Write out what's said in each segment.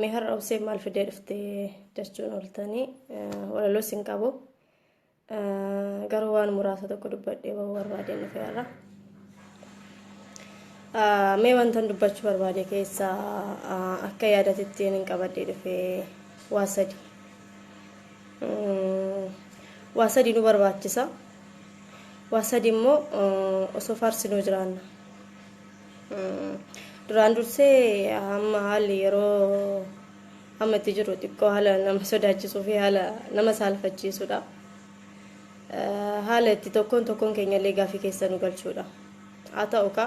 Mee har'a obseen maal fidee dhufte jechuun ooltanii walaloo sin qabu. Garuu waan muraasa tokko dubbadhee waan barbaadeen dhufe har'a. Mee wantan dubbachuu barbaade keessaa akka yaadatitti hin qabadhee dhufe waa sadi. Waa sadi nu barbaachisa. Waa sadi immoo osoo faarsinuu jiraanna. Duraan dursee amma haalli yeroo amma itti jiru xiqqoo haala nama sodaachisuu fi haala nama saalfachiisudha. Haala itti tokkoon tokkoon keenyallee gaafii keessa nu galchuudha. Haa ta'u ka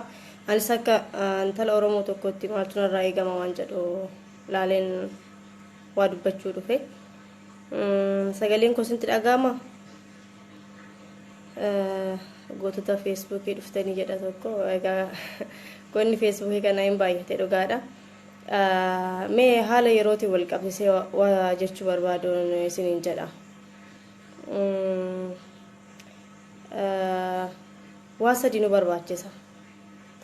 anis akka intala Oromoo tokkotti maaltu narraa eegama waan jedhu laaleen waa dubbachuu dhufe. Sagaleen koo isinitti dhaga'ama? Gootota feesbuukii dhuftanii jedha tokko. Egaa goonni feesbuukii kana hin baay'ate dhugaadha. Mee haala yerootiin wal qabsiisee waa jechuu barbaaduun isiniin jedha. Waa sadii nu barbaachisa.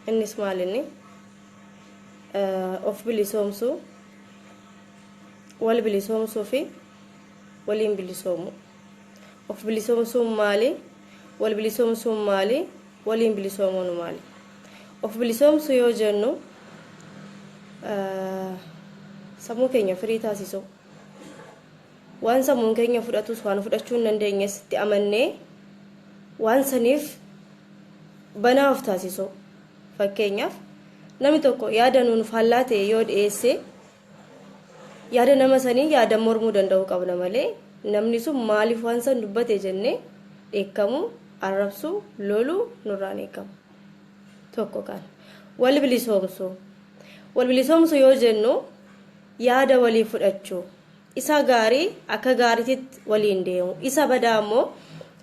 Innis maal inni? Of bilisoomsuu. Wal bilisoomsuu fi waliin bilisoomuu. Of bilisoomsuun maali? Wal bilisoomsuun maali? Waliin bilisoomuun maali? Of bilisoomsuu yoo jennu sammuu keenya firii taasisuu. Waan sammuun keenya fudhatus waan fudhachuu hin dandeenyes itti amannee waan saniif banaa of taasisuu. Fakkeenyaaf namni tokko yaada nuun faallaa ta'e yoo dhiyeesse Yaada nama sanii yaadan mormuu danda'uu qabna malee namni sun maaliif waan san dubbate jennee dheekkamuu, arrabsuu, loluu nurraa hin eegamu. Tokko kana. Wal bilisoomsuu. Wal bilisoomsuu yoo jennu yaada walii fudhachuu. Isa gaarii akka gaariititti waliin deemu. Isa badaa ammoo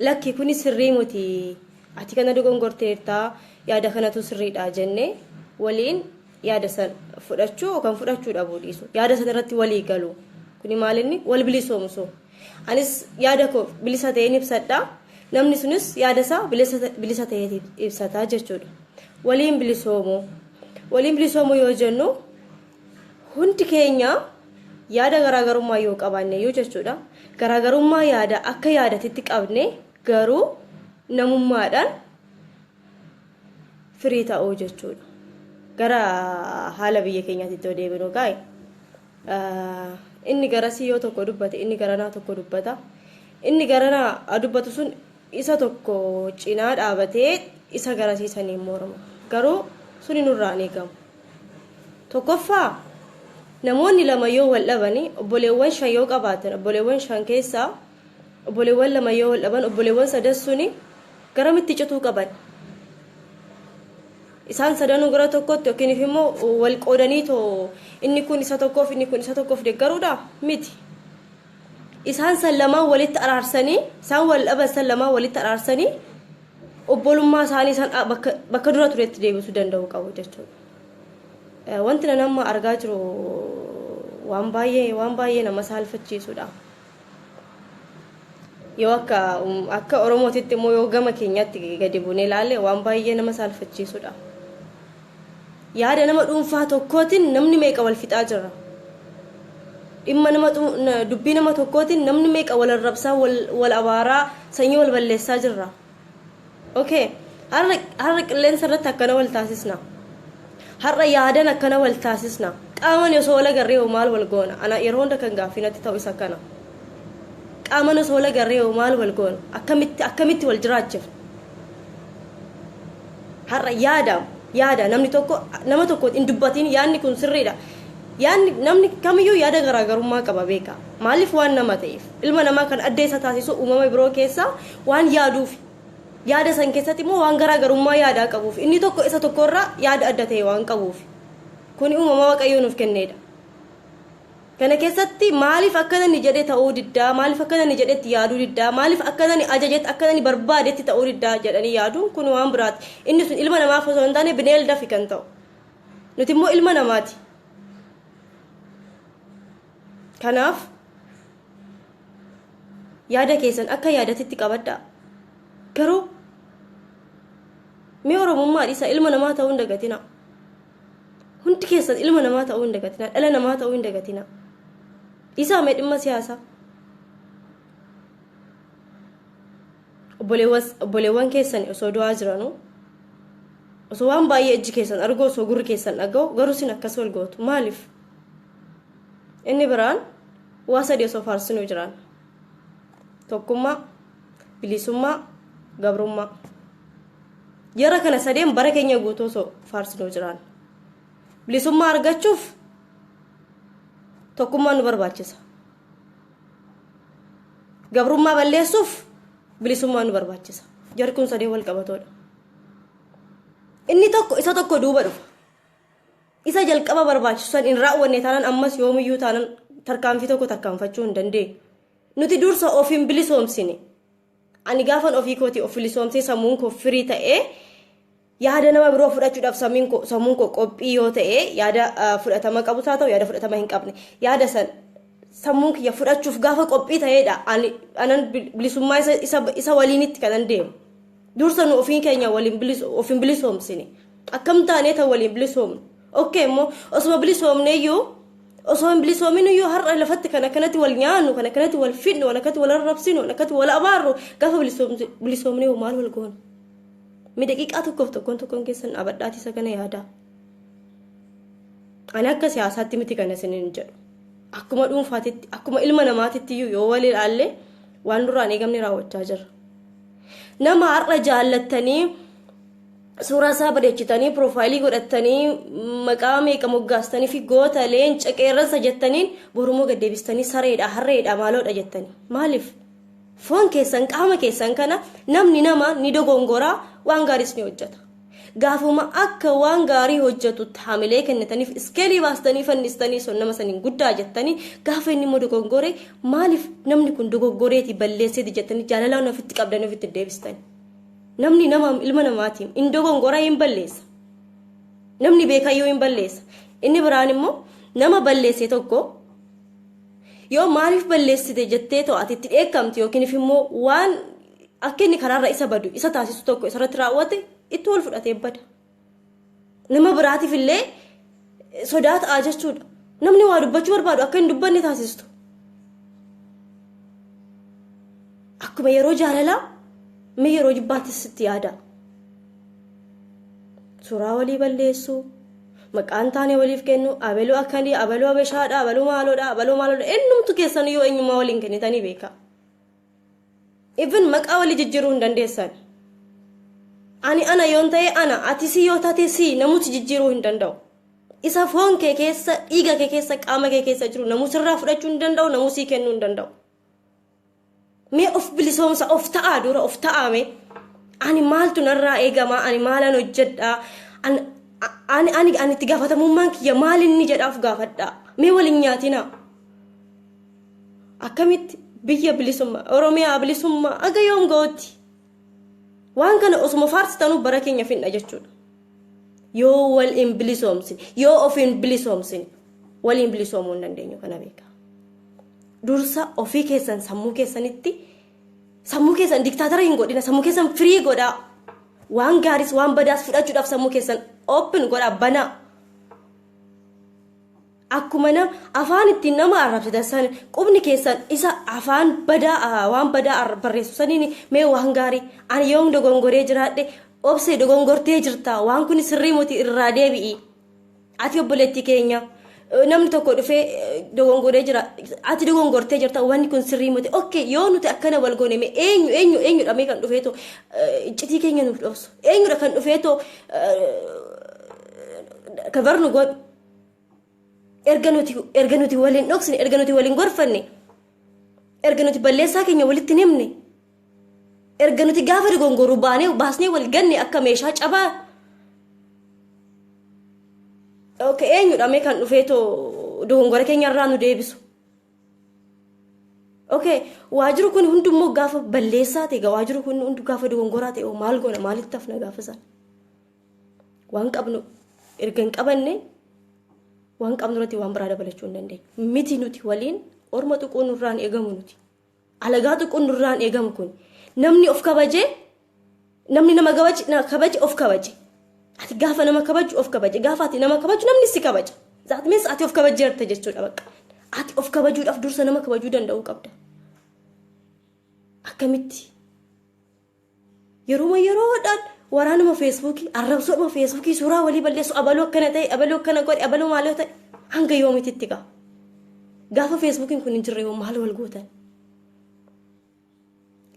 lakki kuni sirrii muti. Ati kana dogongorteertaa yaada kanatu sirriidha jennee waliin yaada san fudhachuu kan fudhachuu dhabuu dhiisu yaada san irratti walii galu kuni maal inni wal bilisoomsu anis yaada koo bilisa ta'een ibsadha namni sunis yaada isaa bilisa ta'ee ibsata jechuudha waliin bilisoomu waliin bilisoomu yoo jennu hundi keenya yaada garaagarummaa yoo qabaanne yoo jechuudha garaagarummaa yaada akka yaadatitti qabne garuu namummaadhaan firii ta'uu jechuudha. Gara haala biyya keenyaatti itti deebinu gaa'e inni garasii yoo tokko dubbate inni garanaa tokko dubbata. Inni garanaa dubbatu sun isa tokko cinaa dhaabatee isa garasii saniin morma. Garuu suni nurraa hin eegamu. Tokkoffaa namoonni lama yoo wal dhabani obboleewwan shan yoo qabaatan obboleewwan shan keessaa Obboleewwan lama yoo wal dhaban obboleewwan sadan suni garamitti cituu qaban? Isaan sadanuu gara tokkotti yookiin immoo wal qoodanii too inni kun isa tokkoof inni kun isa tokkoof deeggaruudha? Miti. Isaan san lamaan walitti araarsanii isaan wal dhaban san lamaan walitti araarsanii obbolummaa isaanii san bakka, bakka dura turetti deebisuu danda'uu qabu jechuudha. Wanti nan amma argaa jiru waan baay'ee waan baay'ee nama saalfachiisudha. yoo akka akka oromootitti immoo yoo gama keenyaatti gadi buunee ilaalle waan baay'ee nama saalfachiisudha. Yaada nama dhuunfaa tokkootiin namni meeqa wal fixaa jira. Dhimma nama dubbii nama tokkootiin namni meeqa wal arrabsaa wal abaaraa sanyii wal balleessaa jirra. okay har'a har'a qilleensa irratti akkana wal taasisna har'a yaadan akkana wal taasisna qaaman osoo wal agarree hoo maal wal goona ana yeroo hunda kan gaaffii natti ta'u isa kana qaaman osoo wal agarree hoo maal wal goona akkamitti akkamitti wal jiraachifna har'a yaada yaada namni tokko nama tokko hin dubbatiin yaadni kun sirriidha yaadni namni kamiyyuu yaada garaagarummaa qaba beeka maaliif waan nama ta'eef ilma namaa kan adda isa taasisu uumama biroo keessaa waan yaaduufi. Yaada san keessatti immoo waan garaa garummaa yaadaa qabuufi. Inni tokko isa tokko irraa yaada adda ta'e waan qabuufi. Kuni uumama Waaqayyoo nuuf kenneedha. Kana keessatti maaliif akkana inni jedhe ta'uu diddaa, maaliif akkana inni jedhetti yaaduu diddaa, maaliif akkana inni ajajetti, akkana inni barbaadetti ta'uu diddaa jedhanii yaaduun kun waan biraati. Inni sun ilma namaaf osoo hin taane bineeldafi kan ta'u. Nuti immoo ilma namaati. Kanaaf yaada keessan akka yaadatitti qabadhaa. Garuu mee Oromummaa dhiisa ilma namaa ta'uu hin dagatina. Hundi keessan ilma namaa ta'uu hin dagatina. Dhala namaa ta'uu hin dagatina. Dhiisaa mee dhimma siyaasaa. Obboleewwan keessan osoo du'aa jiranuu osoo waan baay'ee ijji keessan arguu osoo gurri keessan dhaga'u garuu sin akkas wal gootu maaliif? Inni biraan waa sadii osoo faarsinuu jiraan. Tokkummaa, bilisummaa, gabrummaa. Jara kana sadeen bara keenya guutuu osoo faarsinuu jiraan. Bilisummaa argachuuf tokkummaa nu barbaachisa. Gabrummaa balleessuuf bilisummaa nu barbaachisa. Jarri kun sadeen wal qabatoodha. Inni tokko isa tokko duuba dhufa. Isa jalqaba barbaachisu san hin raawwanne taanaan ammas yoomiyyuu taanaan tarkaanfii tokko tarkaanfachuu hin dandeenyu. Nuti dursa of hin bilisoomsine. Ani gaafan ofii kootii of bilisoomsee sammuun koo firii ta'ee yaada nama biroo fudhachuudhaaf sammuun koo sammuun koo qophii yoo ta'e yaada ah, fudhatama qabus haa ta'u yaada fudhatama hin qabne yaada san sammuun kiyya fudhachuuf gaafa qophii ta'eedha ani anan bil- bilisummaa isa, isa, isa waliinitti kanan deemu. Dursa nu ofiin keenya waliin bilis- of hin bilisoomsine. Akkam taanee tan waliin bilisoomnu. Okkee immoo osuma bilisoomneeyyuu osoo hin bilisoominuyyuu har'a lafatti kan akkanatti wal nyaannu, kan akkanatti wal fidnu, kan akkatti wal arrabsinu, kan akkatti wal abaarru gaafa bilisoomsi- bilisoomnee hoo maal wal goona? Mi daqiiqaa tokkoof tokkoon tokkoon keessan dhaabadhaati isa kana yaadaa. Ani akka siyaasaatti miti kana isiniin jedhu. Akkuma dhuunfaatitti, akkuma ilma namaatitti iyyuu yoo wal ilaalle waan nurraa hin eegamne raawwachaa jirra. Nama har'a jaallattanii suuraa isaa bareechitanii piroofaayilii godhattanii maqaa meeqa moggaastanii fi goota leenca qeerransa jettaniin borumoo gad deebistanii sareedha harreedha maaloodha jettanii maaliif foon keessan qaama keessan kana namni nama ni dogongoraa waan gaariis ni hojjeta. Gaafuma akka waan gaarii hojjatutti hamilee kennitaniif iskeelii baastanii fannistanii sun nama saniin guddaa jettanii gaafa inni immoo dogoggore maaliif namni kun dogoggoreeti balleesseeti jettanii jaalalaan ofitti qabdanii ofitti deebistan. Namni nama ilma namaatiin hin dogongora hin balleessa. Namni beekayyuu hin balleessa. Inni biraan immoo nama balleesse tokko yoo maaliif balleessite jettee to'atitti dheekkamti yookiin immoo waan akka inni karaarra isa badu isa taasisu tokko isarratti raawwate itti wal fudhatee bada. Nama biraatiif illee sodaa ta'aa jechuudha. Namni waa dubbachuu barbaadu akka hin dubbanne taasistu. Akkuma yeroo jaalalaa mee yeroo jibbaattis sitti yaada. Suuraa walii balleessuu, maqaan taane waliif kennu, abaluu akkanii, abaluu abeshaadha, abaluu maaloodha, abaluu maaloodha, eenyumtu keessan yoo eenyummaa waliin kennitanii beekaa. Even maqaa walii jijjiiruu hin dandeessan. Ani ana yoon ta'e ana, ati si yoo taate si namusi jijjiiruu hin danda'u. Isa foon kee keessa, dhiiga kee keessa, qaama kee keessa jiru namusirraa fudhachuu hin danda'u, namusii kennuu hin danda'u. Mee of bilisoomsa, of ta'aa dura, of ta'aa mee. Ani maaltu narraa eegama, ani maalan hojjedha, ani ani ani ani itti gaafatamummaan kiyya maal inni jedhaaf gaafadha. Mee waliin nyaatinaa. akkamitti biyya bilisummaa oromiyaa bilisummaa aga yoom ga'utti waan kana osuma faarsitanuu bara keenya finna jechuudha yoo wal hin bilisoomsine yoo of hin bilisoomsine waliin bilisoomuu hin dandeenyu kana beekaa dursa ofii keessan sammuu keessanitti sammuu keessan diktaatara hin godhina sammuu keessan firii godhaa waan gaariis waan badaas fudhachuudhaaf sammuu keessan open godhaa banaa Akkuma na, afaan ittiin nama arrabsitan san qubni keessan isa afaan badaa ah, waan badaa arra- barreessu saniin mee waan gaarii ani yoon dogongoree jiraadhe obse dogongortee jirta waan kun sirrii muti irraa deebi'i ati obboleettii keenya eh, namni tokko dhufee eh, dogongoree jira ati dogongortee jirta wanni kun sirrii muti ok yoo nuti akkana wal goone mee eenyu eenyu eenyudha mee kan dhufeeto eh, iccitii keenya nuuf dhoosu eenyudha kan dhufeeto eh, kabar nu godhu erga nuti erga nuti waliin dhoksine erga nuti waliin gorfanne erga nuti balleessaa keenya walitti hin himne erga nuti gaafa dogongorru baanee baasnee wal ganne akka meeshaa cabaa ok eenyudha mee kan dhufee too dogongora keenya irraa nu deebisu ok waajirri kun hundummoo gaafa balleessaa ta'e waajirri kun hundu gaafa dogongoraa ta'e maal goona maalitti hafna gaafa sana waan qabnu erga hin qabanne waan qabnu irratti waan biraa dabalachuu hin dandeenyu. Miti nuti waliin orma tuquu nurraan eegamu nuti. Alagaa tuquu nurraan eegamu kun namni of kabaje namni nama kabaje of kabaje. Ati gaafa nama kabaju of kabaje gaafa ati nama kabaju namni si kabaja. Zaat mees ati of kabajeerta jechuudha bakka. Ati of kabajuudhaaf dursa nama kabajuu danda'uu qabda. Akkamitti? Yeruma yeroodhaan waraanuma feesbuukii, arrabsoodhuma feesbuukii, suuraa walii balleessu, abaluu akkana ta'e, abaluu akkana godhe, abaluu maaloo ta'e hanga yoomititti gaa. Gaafa feesbuukiin kun hin jirre hoo maal wal gootan?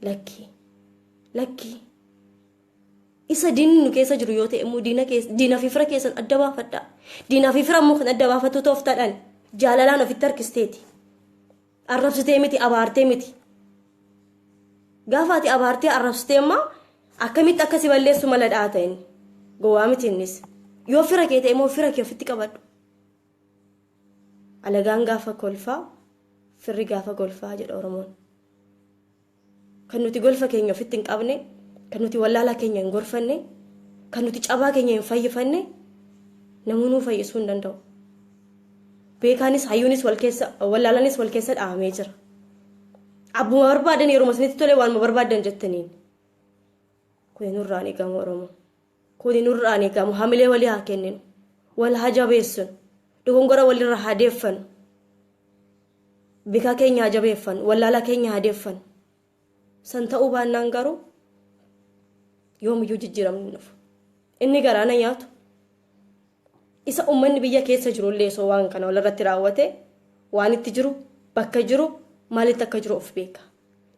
Lakkii. Lakkii. Isa diinni nu keessa jiru yoo ta'e immoo diina keessa diina fi fira keessan adda baafadhaa. Diina fi fira immoo kan adda baafatu tooftaadhaan jaalalaan ofitti harkisteeti. Arrabsitee miti abaartee miti. Gaafa ati abaartee arrabsitee amma akkamitti akka si balleessu mala dhaata inni. Gowwaa miti innis. Yoo fira kee ta'e immoo fira kee ofitti qabadhu. Alagaan gaafa kolfaa firri gaafa kolfaa jedha Oromoon. Kan nuti golfa keenya ofitti hin qabne, kan nuti wallaalaa keenya hin gorfanne, kan nuti cabaa keenya hin fayyifanne namuu nuu fayyisuu hin danda'u. Beekaanis hayyuunis wal keessa wallaalanis wal keessa dhahamee jira. Abbuma barbaadan yeruma isinitti tole waanuma barbaadan jettaniin. Kuni nurraan eegamu Oromoo. Kuni nurraa hin eegamu. Hamilee walii haa kenninu. Wal haa jabeessinu. Dogongora walirraa haa deeffannu. Bikaa keenya haa jabeeffannu. Wallaalaa keenya haa deeffannu. San ta'uu baannaan garuu yoomiyyuu jijjiiramni hin dhufu. Inni garaana nyaatu Isa ummanni biyya keessa jiru illee osoo waan kana walirratti raawwate waan itti jiru, bakka jiru, maalitti akka jiru of beeka.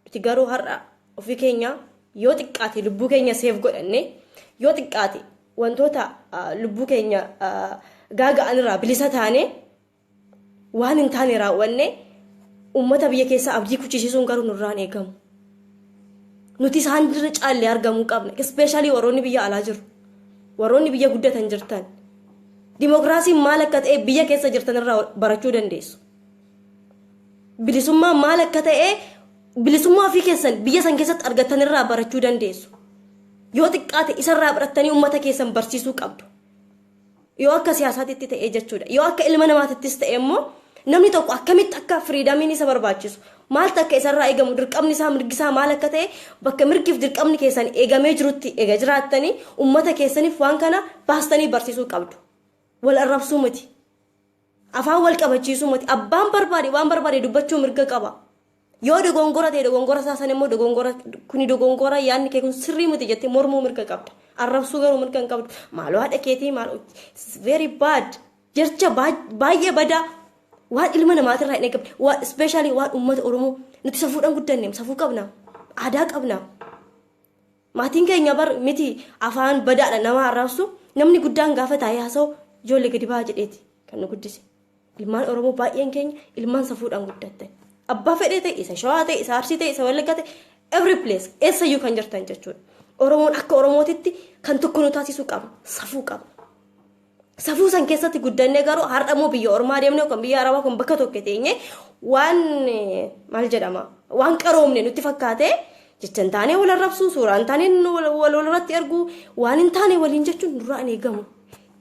Nuti garuu har'a ofii keenya yoo xiqqaate lubbuu keenya seef godhanne yoo xiqqaate wantoota lubbuu keenya gaaga'an irraa bilisa taane Waan hin taane raawwannee uummata biyya keessaa abdii kuchisiisuun garuu nurraan eegamu. Nuti isaan irra caallee argamuu qabna. Ispeeshaalii warroonni biyya alaa jiru. Warroonni biyya guddatan jirtan. Dimookiraasiin maal akka ta'e biyya keessa jirtan irraa barachuu dandeessu. Bilisummaan maal akka ta'e bilisummaa ofii keessan biyya san keessatti argattan irraa barachuu dandeessu. Yoo xiqqaate isarraa barattanii uummata keessan barsiisuu qabdu. Yoo akka siyaasaatitti ta'ee jechuudha. Yoo akka ilma namaatittis ta'e immoo namni tokko akkamitti akka firiidamiin isa barbaachisu maaltu akka isarraa eegamu dirqamni isaa mirgi isaa maal akka ta'e bakka mirgiif dirqamni keessan eegamee jirutti eega jiraattanii uummata keessaniif waan kana baastanii barsiisuu qabdu. Wal arrabsuu miti. Afaan wal qabachiisuu miti. Abbaan barbaade waan barbaade dubbachuu mirga qaba. Yoo dogongora ta'e dogongora isaa sana immoo dogongora kuni dogongora yaadni kee kun sirrii miti jettee mormuu mirga qabda. Arrabsuu garuu mirga hin qabdu. Maaloo haadha keetii maaloo very bad. Jecha baay'ee badaa waan ilma namaatirraa hin eegamne waan ispeeshaalii waan uummata Oromoo nuti safuudhaan guddanne safuu qabna aadaa qabna. Maatiin keenya bar miti afaan badaadha nama arrabsu namni guddaan gaafa taa'ee haasa'u ijoollee gadi ba'aa jedheeti kan nu guddise. Ilmaan Oromoo baay'een keenya ilmaan safuudhaan guddatte. Abbaa fedhee ta'e isa shawaa ta'e isa arsii ta'e isa wallaggaa ta'e every place eessayyuu kan jirtan jechuudha. Oromoon akka Oromootitti kan tokko nu taasisuu qaba safuu qaba. Safuu san keessatti guddannee garuu har'a immoo biyya ormaa deemnee yookaan biyya arabaa kun bakka tokko teenyee waan maal jedhama waan qaroomne nutti fakkaatee jecha hin taane wal arrabsuu suuraa hin taane wal irratti erguu waan hin taane waliin jechuun nurraa hin eegamu.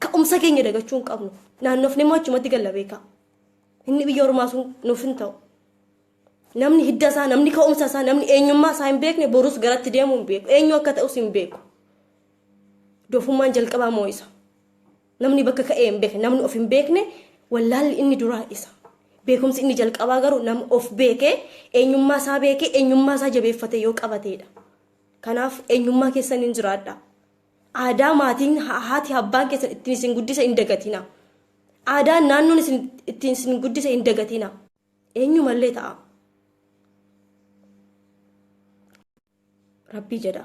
Ka'umsa keenya dagachuu hin qabnu. Naannofni immoo achumatti galla beekaa. Inni biyya ormaa sun nuuf hin ta'u. Namni hidda isaa, namni ka'umsa isaa, namni eenyummaa isaa hin beekne borus garatti deemuu hin beeku. Eenyu akka ta'us hin beeku. Dofummaan jalqabaa moo isa. Namni bakka ka'ee hin beekne, namni of hin beekne wallaalli inni duraa isa. Beekumsi inni jalqabaa garuu nama of beekee eenyummaa isaa beekee eenyummaa isaa jabeeffatee yoo qabateedha. Kanaaf eenyummaa keessan hin jiraadha. Aadaa maatiin haati abbaan keessan ittiin isin guddise hin dagatina. Aadaan naannoon isin ittiin isin guddise hin dagatina. eenyumallee ta'a rabbii jedha